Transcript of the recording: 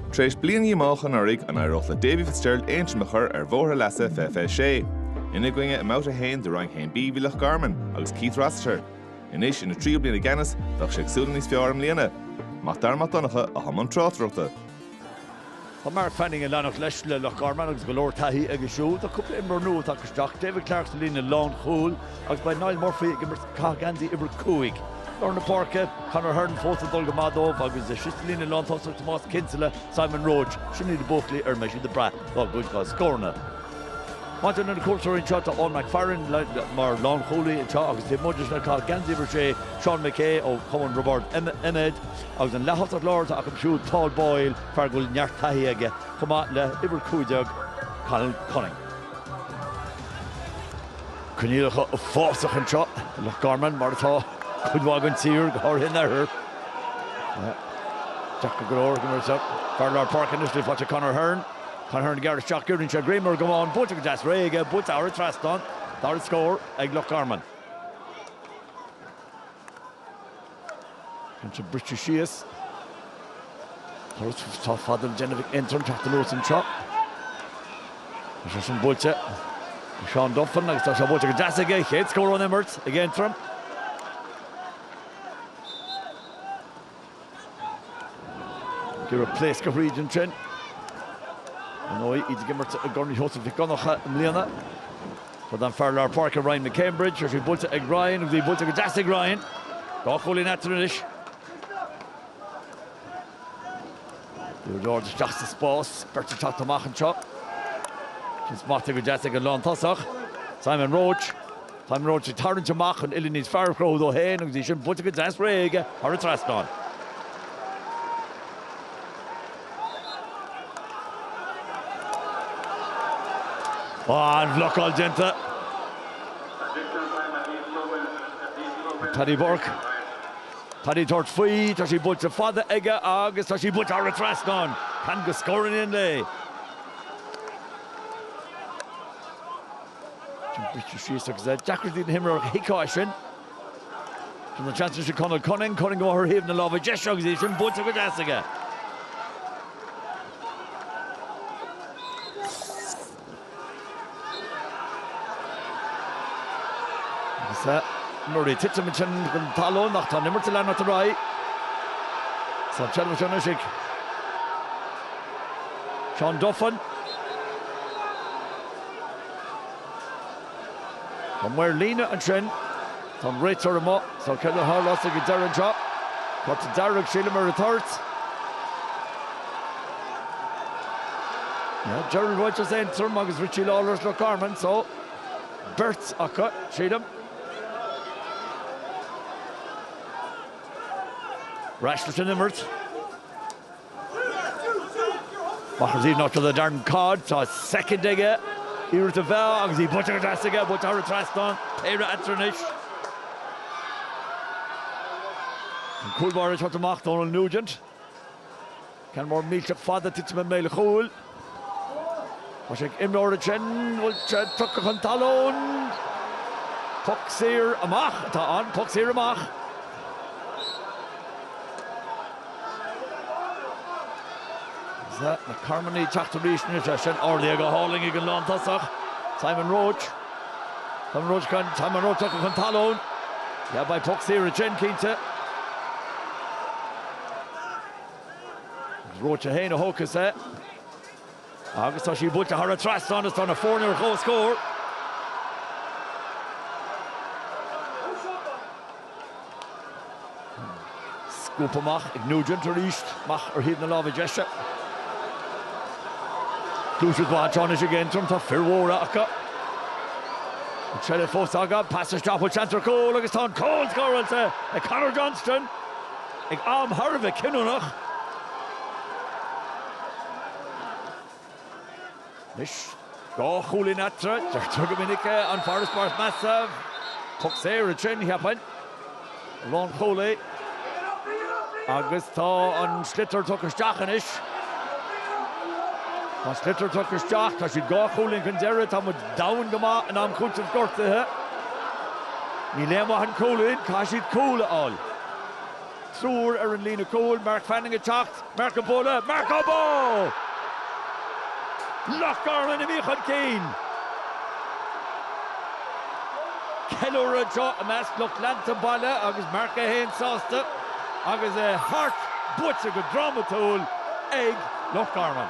Tar éis bliain dhíomách anuraidh, an éireodh le Davy Fitzgerald Aontroim a chur ar bhóthar a leasa i fiche fiche sé? Ina gcoinne i mbabhta a haon de Roinn 1B bhí Loch Garman agus Keith Rossiter. Anois ina thríú bliain i gceannas, bheadh sé ag súil le níos fearr i mbliana. Mac Dara Mac Donncha a thug an tráchtaireacht. Tá Mark Fanning ag leanacht leis le Loch Garman agus go leor taithí aige siúd. Tá cúpla imreoir nua tagtha isteach, David Clarke sa líne lánchúil, Agus beidh Niall Murphy ag imirt ag caitheamh geansaí uimhir a cúig. Lár na páirce, Conor Hearne fós ag dul go maith dóibh agus thíos sa líne lántosach Tomás Kinsella, Simon Roche, sin iad na buachaillí ar a mbeidh siad ag brath dá gcuid dá scóranna. Maidir leis na cuairteoirí anseo, tá Eoin McFarren mar lánchúlaí anseo agus taobh amuigh de sin ag caitheamh geansaí uimhir a sé Seán McKay ó Chumann Roibeard Eiméad agus an leath-thosaí láir atá acu siúd Paul Boyle, fear go bhfuil neart taithí aige, chomh maith le uimhir a cúig déag Conal Cunning. Coinníollacha uafásach anseo i Loch Garman, mar atá cuid mhaith den tír, go háirithe in oirthear Deacair go leor, fear lár páirce anois le fáil, Conor Hearne, Conor Hearne ag gearradh isteach, giorraíonn sé greim ar an gcamán, buailte go deas réidh aige, buailte thar an trasnán, dara scór ag Loch Garman. Ansin briseadh síos. Turas sách fada le déanamh ag Aontroim teacht anuas anseo. Tá sí sin buailte ag Seán Duffin agus tá sí buailte go deas aige, chéad scór ón imirt ag Aontroim. Ag iarraidh pléascadh tríd ansin. Ar ndóigh, iad ag imirt i gCorn Sheosaimh Mhic Dhonncha i mbliana. Fad an fear lár páirce Ryan McCambridge, tá sí buailte ag Ryan, tá sí buailte go deas ag Ryan. Dhá chúilín eatarthu anois. Í go hard isteach sa spás, beirt ag teacht amach anseo. Í sin smachtaithe go deas ag an lántosaí, Simon Roche. Simon Roche ag tarraingt amach chun uillinn níos fearr a chruthú dó féin agus í sin buailte go deas réidh aige thar an trasnán. An bhlocáil déanta ag Paddy Burke. Paddy tabhairt faoi, tá sí buailte fada aige agus tá sí buailte thar an trasnán! Ceann de scóranna an lae. Briseadh síos agus deacrachtaí ag na himreoirí í a phiocadh suas. Tugann seans sin Conall Cunning ag dul i gcomhair thaobh na láimhe deise agus í sin buailte go deas aige. Agus é nuair a titeann ansin chun talún ach tá an imirt ag leanacht ar aghaidh is an tseilbh anois ag Seán Duffin. Tá maor líne ansin. Tá an réiteoir amuigh. Só, céard a tharlós ag an deireadh anseo? Cárta dearg, sílim, ar an toirt. Yeah, Gerry Rogers Aontroim agus Richie Lawlor Loch Garman, só, beirt acu, sílim. Ar ais leis an imirt. Mac Uí Noctaill a dearnadh cád, tá soicind aige iarracht a mheá agus í buailte go deas aige, buailte thar an trasnán, péire eatarthu anois. An cúl báire ag teacht amach, Dónal Nugent. Ceann mór millteach fada ag titim i mbéal an chúil. Tá sé ag imreoir ansin, bhfuil sé tugtha chun talún. Poc saor amach atá ann, poc saor amach. Tá na Carmanaigh ag teacht arís anois, sé sin ardaithe go hálainn ag an lántosach, Simon Roche. Simon Roche gan, Simon Roche tugtha chun talún. Yeah, beidh poc saor ansin, cinnte. Roche é féin a thógfas é agus tá sí buailte thar an trasnán is tá na foirne ar comhscór. Scuabtha amach ag Nugent arís, amach ar thaobh na láimhe deise. Deis mhaith anois ag Aontroim, tá fir mhóra acu. An tseilbh fós acu, pas isteach, bhfuil seans ar chúl agus tá an cúl scóráilte ag Conor Johnston! Ag am thar a bheith cinniúnach, anois, dhá chúilín eatarthu, deirtear go minic é, an farasbarr is measa, poc saor ansin, cheapfainn, lánchúlaí, agus tá an sliotar tugtha isteach anois. Tá an sliotar tugtha isteach, tá siad dhá chúilín chun deiridh, tá muid domhain go maith in am cúitimh gortuithe. Níl aon mhaith an cúilín, caithfidh siad cúl a fháil. Triúr ar an líne chúil, Mark Fanning ag teacht, Mark á bualadh, Mark á bá! Loch Garman imithe chun cinn! Ceiliúradh anseo i measc lucht leanta an bhaile agus Mark é féin sásta agus é thart, buaite go drámatúil ag Loch Garman.